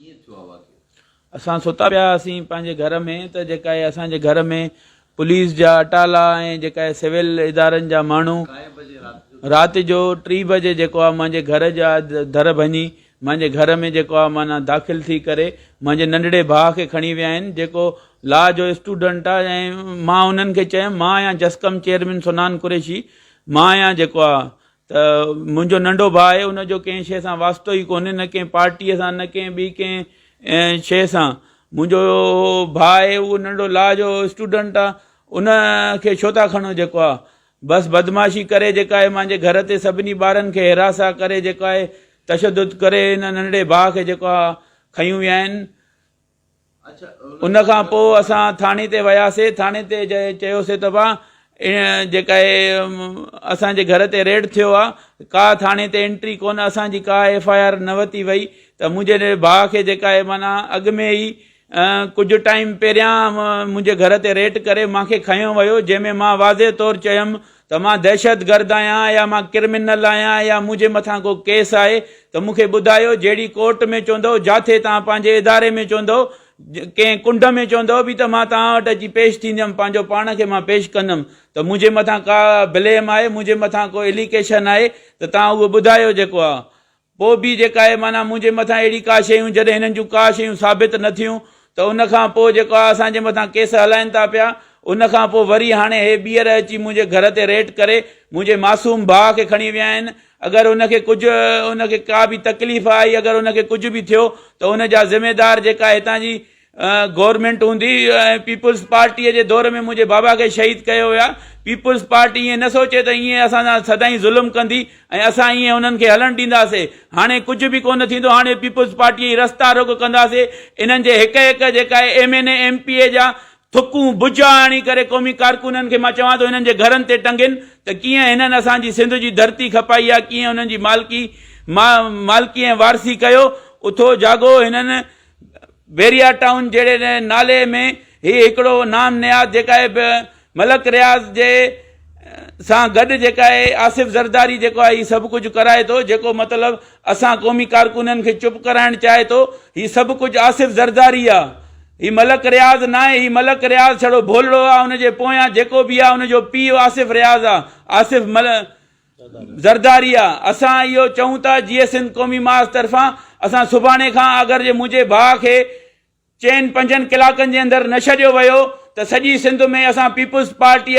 ڪيئن ٿيو آ واقعو؟ اسان ستا پيا هئاسين پنهنجي گهر ۾ ته جيڪا اهي اسان جي گهر ۾ پوليس جا اٽالا ۽ جيڪا اهي سول ادارن جا ماڻهو ڪائي بجي رات جو ٿيو؟ رات جو ٽي بجي جيڪو آ منهنجي گهر جا در ڀڃي منهنجي گهر ۾ جيڪو آ معنيٰ داخل ٿي ڪري منهنجي ننڍڙي ڀاء کي کڻي ويا آهن جيڪو لا جو اسٽوڊنٽ آ ۽ مان انهن کي چيم مان آهيان جسقم چيئرمين سنان قريشي مان آهيان جيڪو آ ته منهنجو ننڍو ڀاء آهي ان جو ڪنهن شيء سان واسطو ئي ڪونهي نه ڪنهن پارٽيء سان نه ڪنهن ٻي ڪنهن شيء سان منهنجو ڀاء آهي اهو ننڍو لا جو اسٽوڊنٽ آهي ان کي ڇو ٿا کڻو جيڪو آهي بس بدمعاشي ڪري جيڪا آهي مانجي گهر تي سڀني ٻارن کي هراسان ڪري جيڪو آهي تشدد ڪري هن ننڍڙي ڀاء کي جيڪو آهي کنيون ويا آهن ان کان پوء اسان ٿاڻي تي وياسي ٿاڻي تي جي چيوسي ته ڀا جيڪا هي اسان جي گهر تي ريڊ ٿيو آ ڪا ٿاڻي تي انٽري ڪون اسان جي ڪا ايف آء آر نه وتي وئي ته منهنجي ڀا کي جيڪا هي معنيٰ اڳ ۾ ئي ڪجهه ٽائيم پهريان منهنجي گهر تي ريڊ ڪري مانکي کنيو ويو جنهن ۾ مان واضح طور چيم ته مان دهشتگرد آهيان يا مان ڪرمنل آهيان يا منهنجي مٿان ڪو ڪيس آهي ته مون کي ٻڌايو جهڙي ڪورٽ ۾ چوندؤ جاٿي توهان پنهنجي اداري ۾ چوندؤ ڪنهن ڪنڊ ۾ چوندؤ به ته مان توهان وٽ اچي پيش ٿيندم پنهنجو پاڻ کي مان پيش ڪندم ته منهنجي مٿان ڪا بليم آهي منهنجي مٿان ڪو اليڪيشن آهي ته توهان اهو ٻڌايو جيڪو آ پوء به جيڪا اهي معنيٰ منهنجي مٿان اهڙي ڪا شيون جڏهن هنن جون ڪا شيون ثابت نه ٿيون ته ان کان پوء جيڪو آ اسان جي مٿان ڪيس هلائين ٿا پيا ان کان پوء وري هاڻي هي ٻيهر اچي منهنجي گهر تي ريٽ ڪري منهنجي معصوم ڀاء کي کڻي ويا آهن اگر ان کي ڪجهه ان کي ڪا به تڪليف آئي اگر ان کي ڪجهه به ٿيو ته ان جا ذميدار جيڪا هتان جي گورنمينٽ هوندي ۽ پيپلز پارٽيء جي دور ۾ منهنجي بابا کي شهيد ڪيو ويو آهي. پيپلز پارٽي ائين نه سوچي ته ائين اسان سان سدائين ظلم ڪندي ۽ اسان ائين انهن کي هلڻ ڏينداسين. هاڻي ڪجهه به ڪونه ٿيندو. هاڻي پيپلز پارٽيء جي رستا روڪ ڪنداسين. انهن جي هڪ هڪ جيڪا اهي M N A, M P A جا ٿڪون بجا آڻي ڪري قومي ڪارڪنن کي مان چوان ٿو هنن جي گهرن تي ٽنگين ته ڪيئن هنن اسان جي سنڌ جي ڌرتي کپائي آهي، ڪيئن انهن جي مالڪي مالڪي ۽ وارثي ڪيو اٿو جاڳو هنن بحريا ٽائون جهڙي نالي ۾ هي هڪڙو نام نهاد جيڪا آهي ملڪ رياض جي سان گڏ جيڪا آهي آصف زرداري جيڪو آهي هي سڀ ڪجهه ڪرائي ٿو جيڪو مطلب اسان قومي ڪارڪونن کي چپ ڪرائڻ چاهي ٿو هي سڀ ڪجهه آصف زرداري آهي هي ملڪ رياض ناهي هي ملڪ رياض ڇڙو ڀولڙو آهي ان جي پويان جيڪو به آهي ان جو پيء آصف رياض آهي آصف مل زرداريا، اسان اهو چئون ٿا جيئي سنڌ قومي ماس طرفان اسان سڀاڻي کان آگر جي منهنجي ڀاء کي چئن پنجن ڪلاڪن جي اندر نه ڇڏيو ويو ته سڄي سنڌ ۾ اسان پيپلز پارٽيء